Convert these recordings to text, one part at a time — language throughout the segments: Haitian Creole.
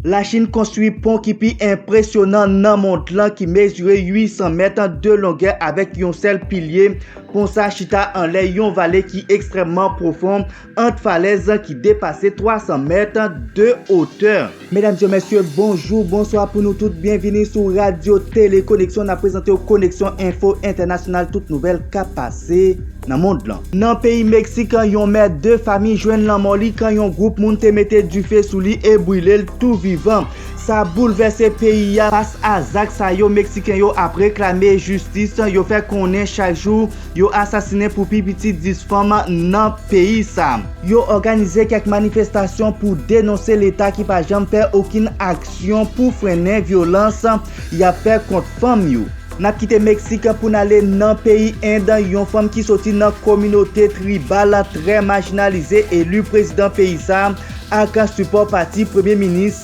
Lachin konstwi pon ki pi enpresyonan nan mond lan ki mezire 800 mèt de longè avèk yon sèl pilye. Pon sa chita anlè yon vale ki ekstrèmman pwofon ant falèz ki depase 300 mèt de otè. Medam e mesye, bonjou, bonswa pou nou tout. Byenvini sou Radyo Tele Koneksyon. N ap prezante w Koneksyon Enfo Entènasyonal, tout nouvèl k ap pase nan mond lan. Nan peyi Meksik, yon mè de fami jwenn lanmò li kan yon gwoup moun te mete dife sou li e brile l tou vivan. Sa boulvèse peyi a. Fas a zak sa yo, Meksiken yo ap reklame jistis, yo fè konnen chak jou yo asasinen pou pi piti 10 fanm nan peyi sa. Yo òganize kèk manifestasyon pou denonse leta ki pa janm fè okenn aksyon pou frennen vyolans y ap fè kont fanm yo. N ap kite Meksik pou n ale nan peyi End, yon fanm ki soti nan kominote tribal trè majinalize eli prezidan peyi sa ak sipò pati Premye Minis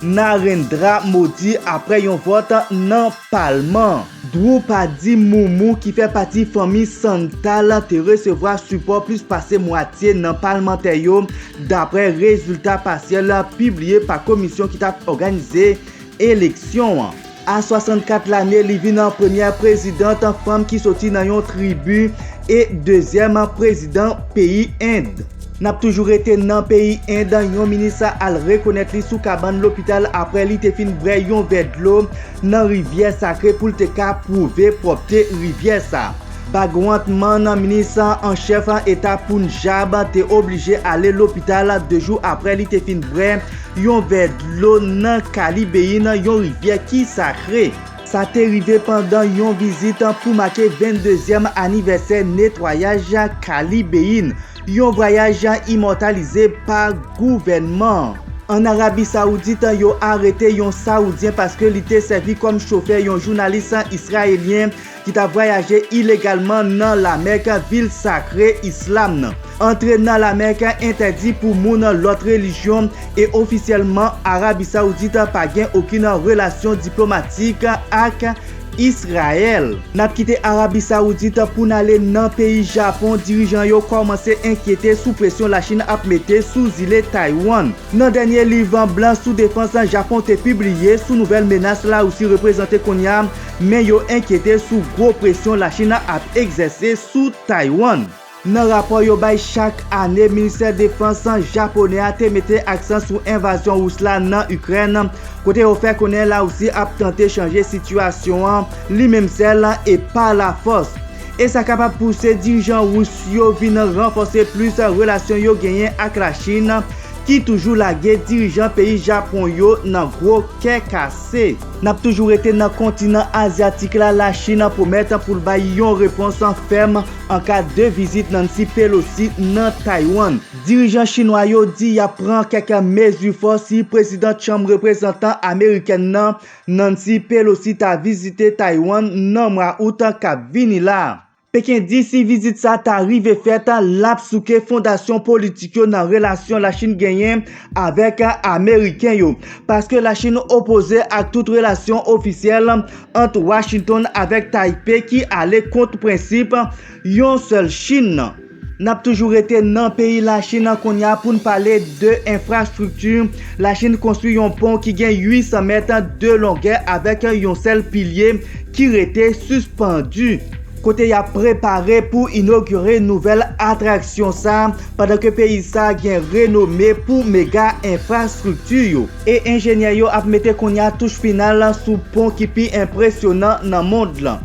Narendra Modi apre yon vòt nan palman. Droupadi Murmu ki fè pati fanmi Santal te resevwa sipò plis pase mwatye nan palmantè yo dapre rezilta pasyèl pibliye pa komisyon ki t ap òganize eleksyon an. A 64 lane li vin an premyè prezidant fanm ki soti nan yon tribi e dezyèm prezidant peyi End. Nap toujou rete nan peyi End, yon minis al rekonèt li sou kabann lopital aprè li te fin bwè yon vè dlo nan rivyè sakre pou l te ka pwouve pwòpte rivyè sa. Bhagwant Mann, minis an chèf eta Punjab, te oblije ale lopital 2 jou aprè li te fin bwè yon vè dlo nan Kalibeyi nan yon rivyè ki sakre. Sa te rive pandan yon vizit pou make 22 zyèm anivèsè netwayaj Kalibeyi, yon vwayaj imòtalize pa gouvènman. Ann Arabi Sawoudit, yo arete yon Sawoudyen paske li te sèvi kòm chofè yon jounalis Israelyen ki t ap vwayaje ilegalman nan Lamèk, vil sakre islam nan. Antre nan Lamèk entèdi pou moun lòt relijyon, e ofisyèlman Arabi Sawoudit pa gen okenn relasyon diplomatik ak Israel. N ap kite Arabi Sawoudit pou n ale nan peyi Japon, dirijan yo kòmanse enkyete sou presyon Lachin ap mete sou zile Taywann. Nan dènye liv blan sou defans Japon te pibliye sou nouvèl menas Larisi reprezante kounye a, men yo enkyete sou gwo presyon Lachina ap egzèse sou Taiwan. Nan rapò yo bay chak ane, Ministè Defans Japonè a te mete aksan sou envazyon Ris la nan Ikrèn, kote yo fè konnen Larisi ap tante chanje sitiyasyon an li menm sèl e pa lafòs, e sa kapab pouse dirijan Ris yo vin ranfòse plis relasyon yo genyen ak Lachin, ki toujou lage dirijan peyi Japon yo nan gwo kè kase. N ap toujou rete nan kontinan azyatik la, Lachin pwomèt pou l bay yon repons fèm an ka de vizit Nancy Pelosi nan Taywann. Dirijan chinwa yo di y ap pran kèk mezi fò si prezidant chanm reprezantan amerikèn nan, Nancy Pelosi ta vizite Taywann nan mwa out kap vini la. Peken di si vizit sa ta rive fèt, l ap souke fondasyon politik yo nan relasyon Lachin genyen avèk Ameriken yo. Paske Lachin opoze ak tout relasyon ofisyèl ant Washington avèk Taype ki ale kont prensip yon sèl Chin nan. Nap toujou rete nan peyi Lachin an kounya poun pale de enfrastrikti, Lachin konstwi yon pon ki gen 800 mèt de longè avèk yon sèl pilye ki rete sispandu, kote yap prepare pou inogire nouvèl atraksyon sa, pandan ke peyi sa gen renome pou mega enfrastrikti yo. E enjenyè yo ap mete kounya touch final sou pon ki pi enpresyonan nan mond lan.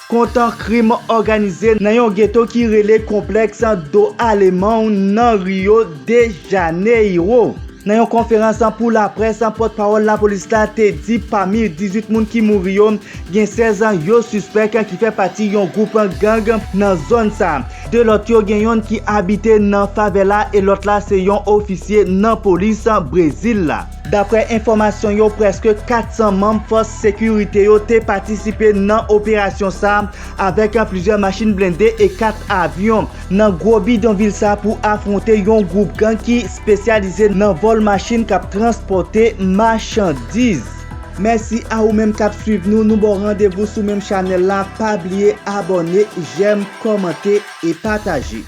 kontan krim òganize nan yon geto ki rele Complex do Alemão nan Rio de Janeiro. Nan yon konferans pou laprès, pòtpawòl lapolis la te di pami 18 moun ki mouri yo, gen 16 yo sispèk ki fè pati yon gwoup gang nan zòn sa. 2 lòt yo gen yonn ki abite nan favela e lòt la se yon ofisye nan polis Brezil la. Daprè enfòmasyon yo prèske 400 manm fòs sekirite yo te patisipe nan operasyon sa avèk plizyè machin blende e 4 avyon nan gwo bidonvil sa pou afwonte yon gwoup gang ki spesyalize nan vòl machin kap transpòte machandiz. Mèsi a ou menm kap swiv nou, nou baw randevou sou menm chanèl la, pa bliye abòne, jèm, kòmante e pataje.